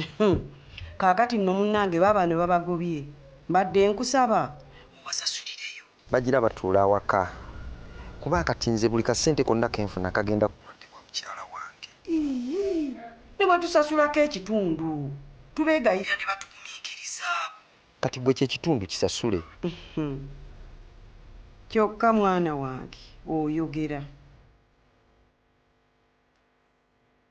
Uhmm kakati nno munange babano babagobye mbadde nkusaba obasasulireyo. Bagira batuula awaka kuba kati nze buli kasente konna kenfuna kagenda ku bulwadde bwa mukyala wange. Iiyii nebatusasulako ekitundu tubegayirira nebatuguminkirizaako. Kati gwe ekyo ekitundu kisasule. Uhmm kyokka mwana wange oyogera.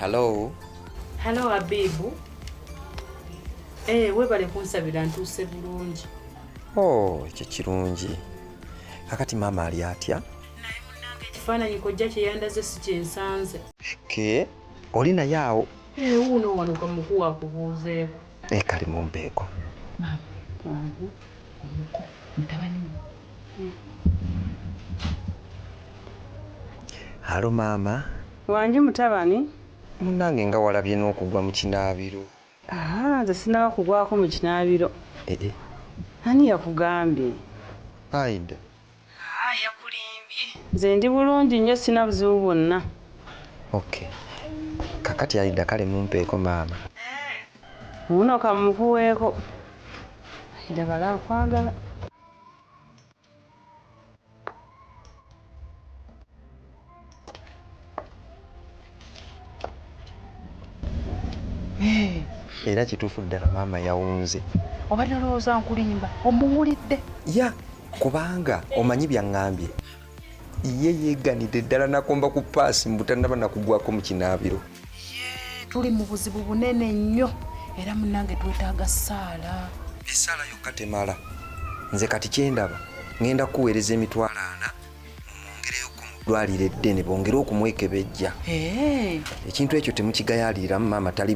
Hello. Hello Abibu. Eh, webale kunsabira ntuuse bulungi. Oh, ekyo kirungi. Kakati maama ali atya? Naye munnange ekifaananyi kojja kye yandaze si kye nsanze. Ke, oli naye awo? Eh, wuuno wano kamukuwa akubuuzeeko. Naye kali mumpe eko. Maama wange omuko mutabani wo eeh. Halo maama. Wange mutabani. Munange nga walabye nokugwa mukinabiro. Ahaa nze sinaba kugwako mukinabiro. Eeh. Ani yakugambye. Aida Haa yakulimbye. Nze ndi bulungi nnyo sina buzibu bwonna. Ok kakati alidda kale mumpeeko maama. Eeh wuuno kamukuweeko alidda kale akwagala. era kituufu ddala maama yawunze oba nalowooza nkulimba omuwulidde ya kubanga omanyi byaŋŋambye ye yeeganidde ddala nakomba ku paasi mbutanaba nakugwako mu kinaabiro tuli mu buzibu bunene nnyo era munange twetaaga saala esaala yokka temala nze kati kyendaba ŋenda kuweereza emitwalo ana dwaliro eddene bongere okumwekebejja eh. ekintu ekyo temukigayaliriramu maama tali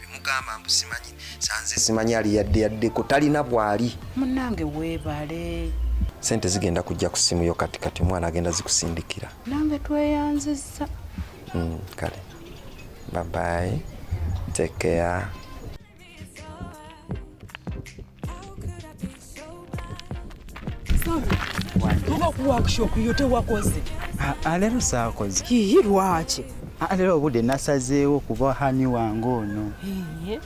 bimugamba mbusimanyi sanze simanyi ali yadde yaddeko talina bwali munange webale sente zigenda kujja ku simu yo kati kati omwana agenda zikusindikira nange tweyanziza mm, kale babayi tekeya tuba ku workshop yo tewakoze alero saakoze hihi lwaki alero obudde nasazeewo kuba hani wange ono eh.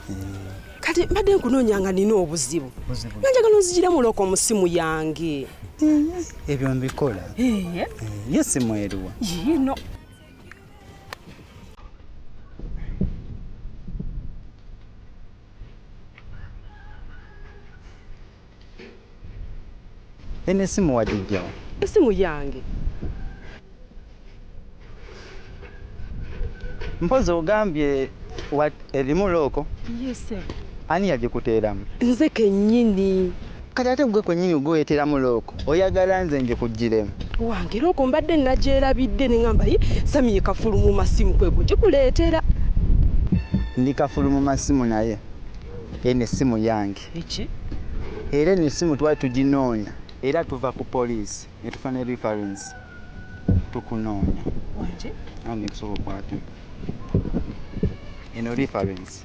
kati mbadde nkunoonya nga nina obuzibu nanjagala onzijira muloko mu simu yange ebyo mbikola ye eh, simu eriwa yino Eno esimu wagijja wa? Esimu yange. Mpozi ogambye erimu looko? Yes sir. Ani yagikuteeramu? Nze kennyini. Kati ate gwe kwenyini gwe weteramu lock oyagala nze njikujjiremu. Wange lock mbadde nagyerabidde nengamba yi Sammy ye kafulu mu masimu kwe kujikuleetera. Ndi kafulu mu masimu naye eno essimu yange. Biki? Era eno essimu twali tuginoonya era tuva ku poliisi ne tufuna ne reference tukunoonya. Wange. Anti nkusobola okukwata eno reference.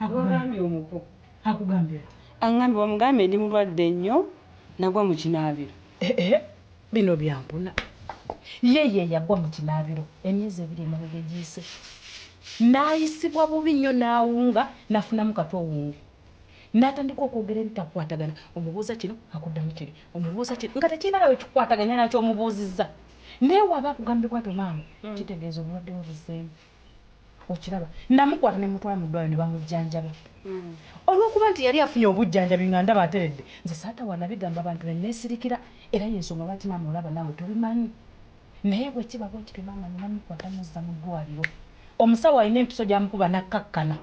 Akugambye omuko akugambye ki. Angambye bamugambye ndi mulwadde nnyo nagwa mu kinaabiro. Eeh bino byampuna. Ye ye yagwa mu kinaabiro emyezi ebiri emabega egiyise n'ayisibwa bubi nnyo n'awunga n'afunamu katwe owunge n'atandika okwogera ebitakwatagana omubuuza kino akuddamu kiri omubuuza kiri nga tekirina na we kikwataganya na ky'omubuuzizza naye w'aba akugambye bwatyo maama kitegeeza obulwadde bwe buzzeemu. okiraba namukwata ne mutwala mu ddwaliro ne bamujjanjaba hmm. olw'okuba nti yali afunye obujjanjabi nga ndaba ateredde nze saatawa nabigamba abantu ne neesirikira era y'ensonga lwaki maama olaba naawe tobimanyi naye bwe kiba bwe kityo maama ne namukwata muzza mu ddwaliro omusawo alina empiso gy'amukuba n'akkakkana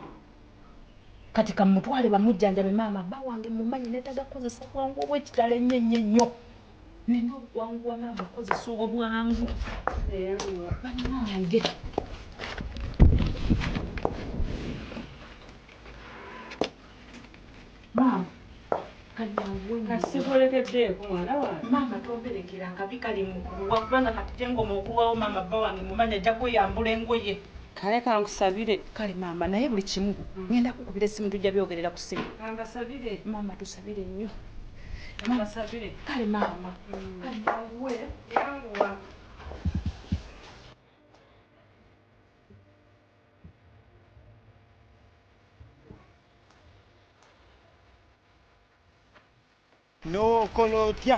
kati kamutwale bamujjanjabe maama bba wange mumanyi neetaga kukozesa bwangu obw'ekitalo ennyo ennyo ennyo nina okwanguwa maama kozesa obwangu banange maama maama tomberekera akabi kali mukuwa kubanga kati jengoma okulwawo maama bba wange mumanyi ajja kweyambula engoye kale kankusabire kale maama naye buli kimu ngenda kukubira essimu tujja byogerera ku simu maama tusabire nnyo N'okola otya?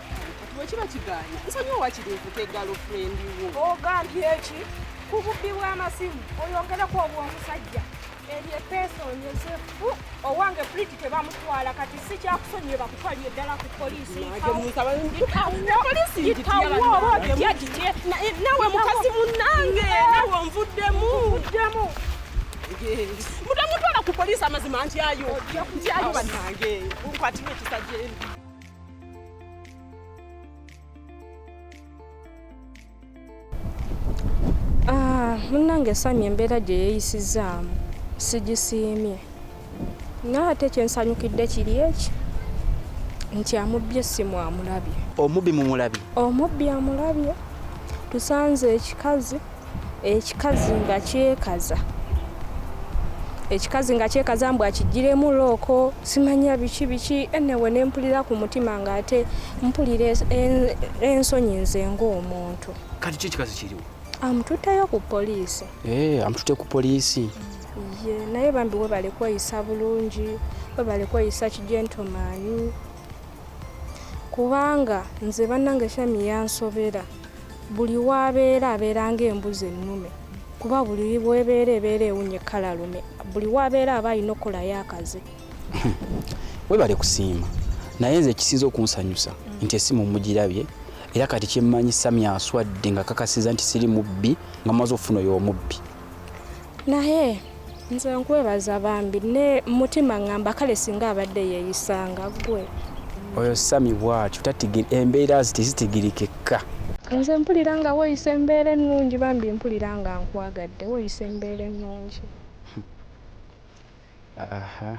bwekiba kigaanye nsonyiwa wakiri nkuta eggalo furendi wo ogambye eki ku bubbi bw'amasimu oyongereko obw'omusajja eryo epeesa onyezefu owange puliti tebamutwala kati si kyakusonyiwe bakutwalire ddala ku polisi nawe mukazi munange nawe onvuddemu mutamutwala ku polisi amazima ntyayo ntyayo banange nkwatirwa ekisajja Ah, munnange Sami embeera gye yeeyisizzaamu sigisiimye naye ate kyensanyukidde kiri eki nti amubbye essimu amulabye omubbi mumulabye omubbi amulabye tusanze ekikazi ekikazi nga kyekaza ekikazi nga kyekaza mbu akijjiremu looko simanya biki biki enewe ne mpulira ku mutima ng'ate mpulira ensonyi nze ng'omuntu kati ki ekikazi kiriwo amututteyo ku poliisi ee eh, amututte ku poliisi ye naye bambi webale kweyisa bulungi webale kweyisa kijentomaani kubanga nze bannange shami yansobera buli waabeera abeera ng'embuzi ennume kuba buli webeera ebeera ewunye kala lume buli waabeera aba alina okukolayo akaze webale kusiima naye nze ekisinza okunsanyusa mm. nti esimu mugirabye era kati kyemmanyi sami aswadde nga kakasiza nti siri mubbi nga maze ofuna oyo omubbi naye nze nkwebaza bambi ne mutima ngamba kale singa abadde yeyisanga gwe oyo sami bwatyo tatigiri embeera zitezitigirikekka nze mpulira nga woyisa embeera ennungi bambi mpulira nga nkwagadde woyisa embeera ennungi aha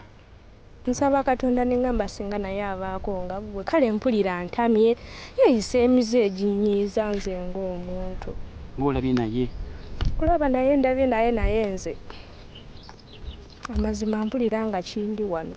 Nsaba katonda nengamba singa naye abaako nga gwe kale mpulira ntamye yeyisa emize eginyiiza nze nga omuntu. Nga olabye naye. Okulaba naye ndabye naye naye nze amazima mpulira nga kindi wano.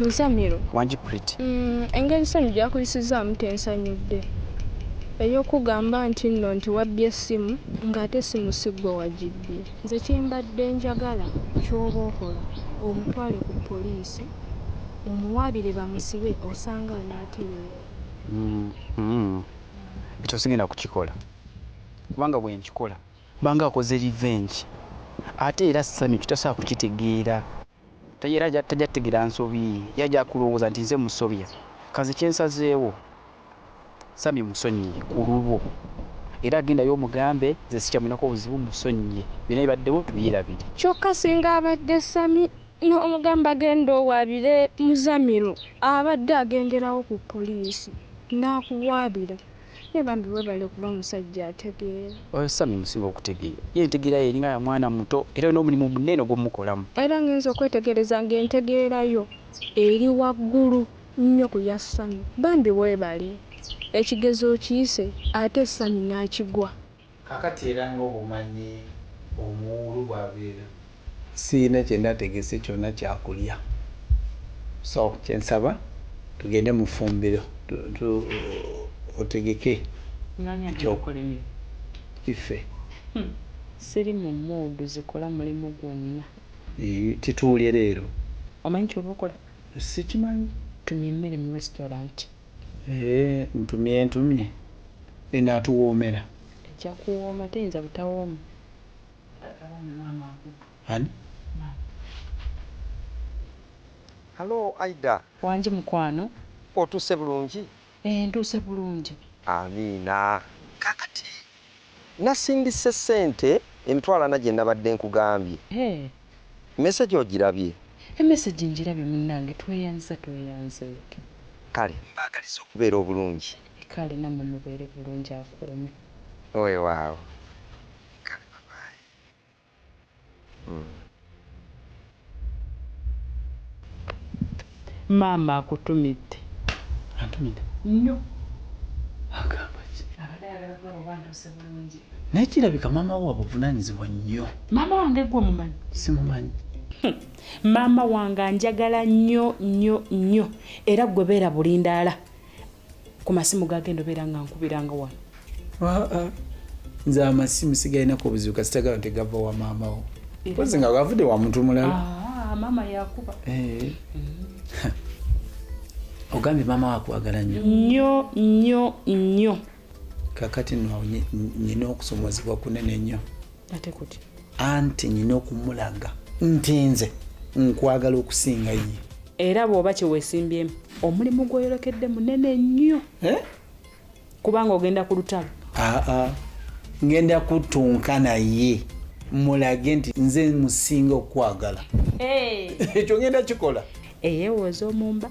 Muzamiru, engeri Ssanyu gy'akuyisizzaamu tensanyudde. Ey'okukugamba nti nno nti wabbye essimu ng'ate essimu si ggwe wagibbye. Nze kye mbadde njagala ky'oba okola omutwale ku poliisi omuwaabire bamusibe osanga anaatereera. Ekyo sigenda kukikola kubanga bwe nkikola. Banga akoze revenge ate era Sammy tasobola kukitegeera. Era tajja kutegeera nsobi ye. Ye ajja kulowooza nti nze musobya. Kanze kyensazeewo Sammy musonyiye kululwo. Era gendayo omugambe nze sikyamulinako buzibu musonyiye. Byonna ebibaddewo tubyerabire. Kyokka singa abadde Sammy n'omugamba genda owaabire Muzamiru abadde agenderawo ku poliisi n'akuwaabira. Naye bambi webale kuba musajja ategeera. Oyo Sammy musiru okutegeera. Ye entegeera ye eringa ya mwana muto era olina omulimu munene gwomukolamu. Era ngenze okwetegereza nga entegeera yo eri waggulu nnyo ku ya Sammy. Bambi webale. Ekigezo okiyise ate Sammy nakigwa. Kakati era nga obumanyi omuwuulu bwabeera. Sirina kyenategese kyona kyakulya so kyensaba tugende mufumbiro tu otegeke ekyokulyaiffe. Siri mu mood zikola mulimu gwonna. Kituulye leero. Omanyi kyoba okola? Sikimanyi. Tumye emmere mu restaurant. Eeh ntumye ntumye enatuwoomera. Ejja kuwooma teyinza butawooma. Ani? Hello Aidah. Wangi mukwano. Otuuse bulungi? Eeh ntuuse bulungi. Amiina. Kakati Nasindise ssente emitwalo ana gye nabadde nkugambye. Hee. Message ogirabye? E message ngirabye munnange. Tweyanziza tweyanzeek. Kale mbaagaliza okubeera obulungi. Kale nammwe mubeere bulungi akuume. Weewaawo. Kale bye bye. Maama akutumidde. Antumidde? Nnyo. Agamba ki? Abadde ayagala kulaba oba ntuuse bulungi. Naye kirabika maama wo wabuvunaanyizibwa nnyo. Maama wange ggwe omumanyi? Simumanyi. Maama wange anjagala nnyo nnyo nnyo era ggwe beera bulindaala. ku masimu gagenda obeera nga nkubiranga wano aa nze amasimu sigalinako obuzibu kasitagala nti gava wa maamawo pozi nga gavudde wa muntu mulala ah, maama yakuba eh. ogambye maama wakwagala nyo nyo nyo nyo kakati no nyina okusomozebwa kunene nnyo anti nyina okumulaga nti nze nkwagala okusinga ye era bw'oba kyewesimbyemu omulimu gwoyolekedde munene nnyo eh? kubanga ogenda ku lutalo aa ngenda kutunka naye mulage nti nze musinga okukwagala ekyo ngenda kikola eyewooza omumba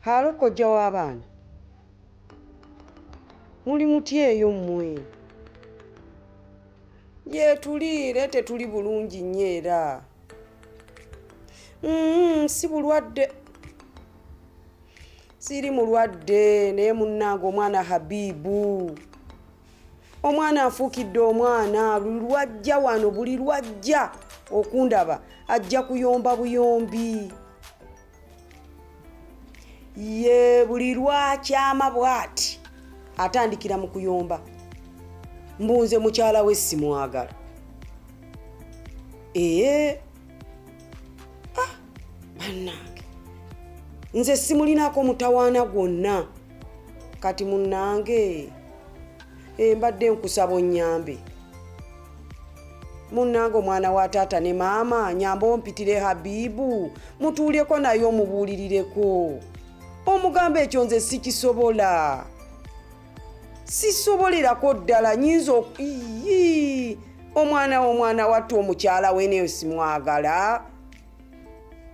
Halo kojja w'abaana. Muli mutya eyo mmwe? Yetuliire tetuli bulungi nnyo era. Mm, si bulwadde. Siri mulwadde naye munnange omwana Habibu. Omwana afuukidde omwana lwajja wano buli lwajja okundaba ajja kuyomba buyombi. ye buli lwakyama bwati atandikira mu kuyomba mbunze mukyala we simwagala ee ah, banange nze simulinako mutawaana gwonna kati munange Eh, mbadde nkusaba onyambe munnange omwana wa taata ne maama nyamba ompitire habibu mutuuleko naye omubuulirireko omugambo ekyo nze sikisobola sisobolerako ddala nyinza iyi omwana womwana wattu omukyala we neyo simwagala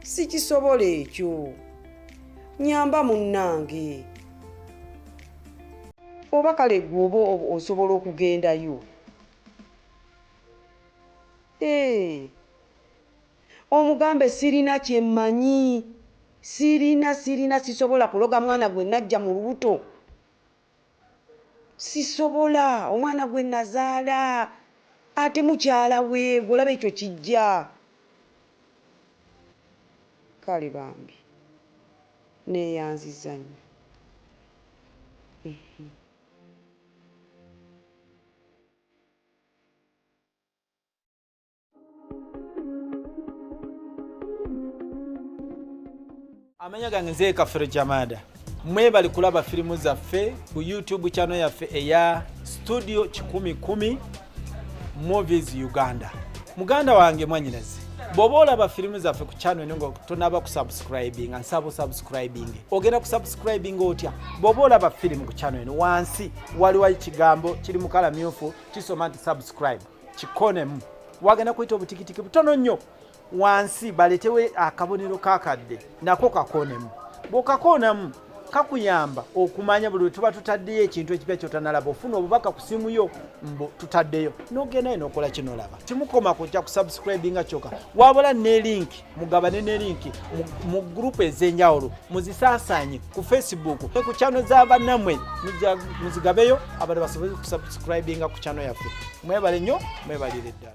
sikisobola ekyo nyamba munnange Oba kale gwe oba osobola okugendayo eeh omugambe sirina kyemmanyi sirina sirina sisobola kuloga mwana gwe najja mu lubuto sisobola omwana gwe nazaala ate mukyala we gwe olaba ekyo kijja kale bambi. Nneeyanzizza nnyo. Amanya gange nze Kafiro Jamada. Mwebali kulaba firimu zaffe ku YouTube channel yaffe eya Studio Kikumi Kumi. movies uganda muganda wange mwanyinaze bwoba olaba firimu zaffe ku channel eno nga tonaba kusubscribinga nsaba osubscribing ogenda kusubscribinga otya bwoba olaba firimu ku channel eno wansi waliwo ekigambo kiri mukala myufu kisoma nti subscribe kikonemu wagenda kuyita obutikitiki butono nnyo wansi baletewo akabonero kakadde nako kakonemu bwokakoonamu kakuyamba okumanya buli wetuba tutaddeyo ekintu ekipya kyotanalaba ofuna obubaka ku simu yo mbu tutaddeyo nogendayo nokola kino laba kimukoma kujja kusubscribinga kyoka wabula ne linki mugabane ne linki mu gurupu ezenjawulo muzisasanye ku facebook ku kyano za banamwe muzigabeyo abantu basobole kusubscribinga ku kyano yaffe mwebale nnyo mwebalire ddala